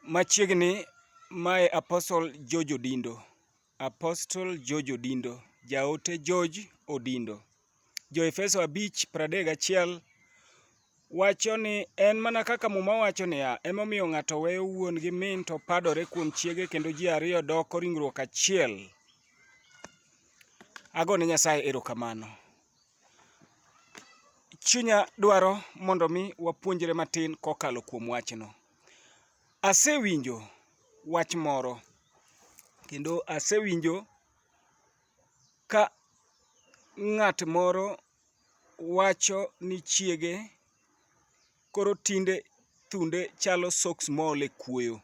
Machiegni mae Apostle George Odindo. Apostle George Odindo. Jaote George Odindo. Jo Efeso 5:31 wacho ni en mana kaka muma wacho niya, emomiyo ng'ato weyo wuon gi min to padore kuom chiege kendo ji ariyo doko ringruok achiel. Agone Nyasaye erokamano. chunya dwaro mondo mi wapuonjre matin kokalo kuom wachno. Asewinjo wach moro kendo asewinjo ka ng'at moro wacho ni chiege koro tinde thunde chalo soks mool e kuoyo.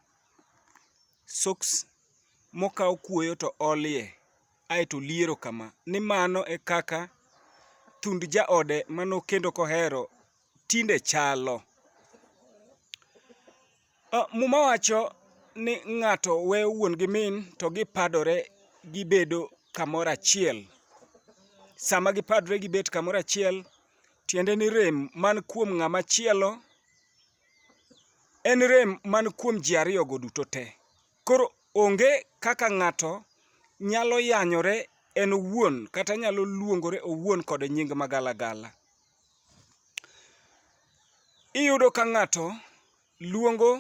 Soks mokaw kuoyo to olie. ae to liero kama, ni mano e kaka thund jaode ma nokendo kohero tinde chalo. Muma wacho ni ng'ato weyo wuon gi min to gipadore gibedo kamoro achiel. Sama gipadore gibet kamoro achiel, tiende ni rem man kuom ng'ama chielo en rem man kuom ji ariyogo duto te. Koro onge kaka ng'ato nyalo yanyore en owuon kata nyalo luongore owuon kod nying magalagala. Iyudo ka ng'ato luongo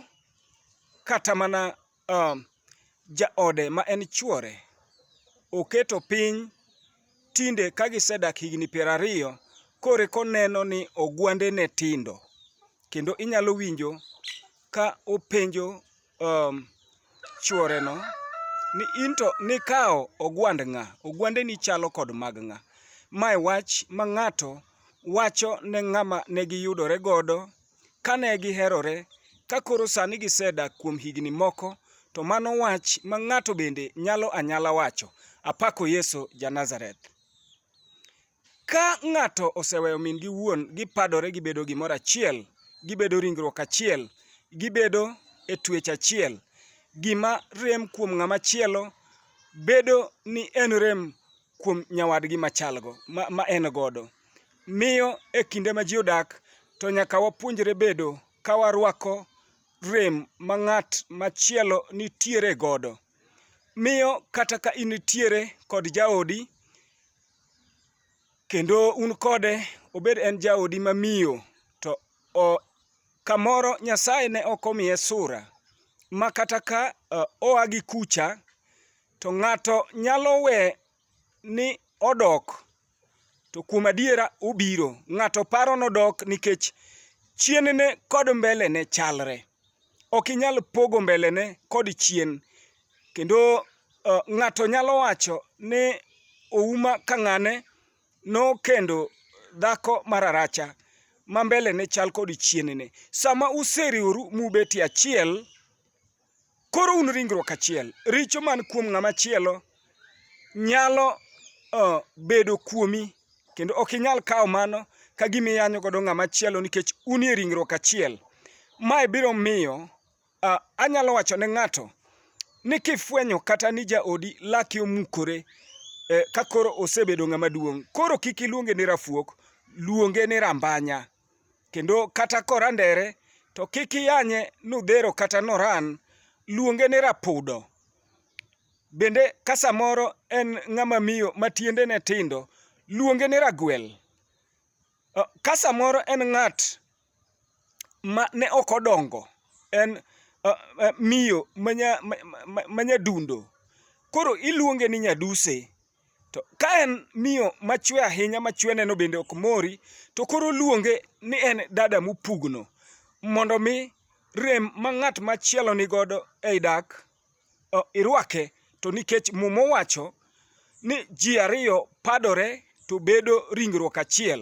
kata mana uh, jaode ma en chuore oketo piny tinde ka gisedak higni piero ariyo kore koneno ni ogwande ne tindo kendo inyalo winjo ka openjo um, chworeno ni into nikawo ogwand ng'a ogwandeni chalo kod mag ng'a mae wach ma ng'ato wacho ne ng'ama ne giyudore godo kane giherore ka koro sani gisedak kuom higni moko to mano wach ma ng'ato bende nyalo anyala wacho apako yesu ja nazareth Ka ng'ato oseweyo min gi wuon, gipadore gibedo gimoro achiel, gibedo ringruok achiel, gibedo e twech achiel. Gima rem kuom ng'ama chielo bedo ni en rem kuom nyawadgi machalgo ma en godo. Miyo e kinde ma ji odak to nyaka wapuonjre bedo ka warwako rem ma ng'at machielo nitiere godo. Miyo kata ka in nitiere kod jaodi, kendo un kode obed en jaodi mamiyo to o, kamoro Nyasaye ne ok omiye sura ma kata ka uh, oa gi kucha to ng'ato nyalo we ni odok to kuom adiera obiro ng'ato paro nodok nikech chienene kod mbelene chalre ok inyal pogo mbelene kod chien Kendo uh, ng'ato nyalo wacho ni Ouma Kang'ane nokendo dhako mararacha ma mbele ne chal kod chienene. Sama useriworu mubet e achiel, koro un ringruok achiel. Richo man kuom ng'ama chielo nyalo uh, bedo kuomi kendo ok inyal kawo mano ka gima iyanyo godo ng'ama chielo nikech unie ringruok achiel. Mae biro miyo Anyalo wacho ne ng'ato ni kifwenyo kata ni jaodi lake omukore ka koro osebedo ng'ama duong', koro kik iluonge ni rafuok, luonge ni rambanya. Kendo kata korandere to kik iyanye nudhero kata noran, luonge ni rapudo. Bende ka samoro en ng'ama miyo ma tiendene tindo, luonge ni ragwel. Ka samoro en ng'at. ma ne ok odongo en miyo ma nyadundo. Koro iluonge ni nyaduse. To ka en miyo machwe ahinya ma chwene no bende ok mori, to koro oluonge ni en dada mopugno. Mondo mi rem ma ng'at machielo ni godo ei dak, irwake. To nikech Muma owacho ni ji ariyo padore to bedo ringruok achiel.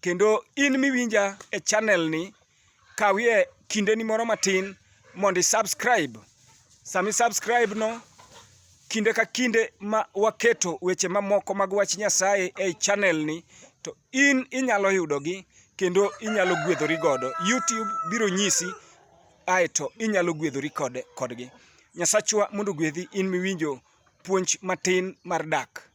Kendo in miwinja e channel ni, kawie kindeni moro matin mondo i-subscribe. Sama i-subscribe no, kinde ka kinde ma waketo weche mamoko mag wach Nyasaye ei channel ni, to in inyalo yudogi kendo inyalo gwedhori godo. YouTube biro nyisi aeto inyalo gwedhori kodgi. Nyasachwa mondo ogwedhi in miwinjo puonj matin mar dak.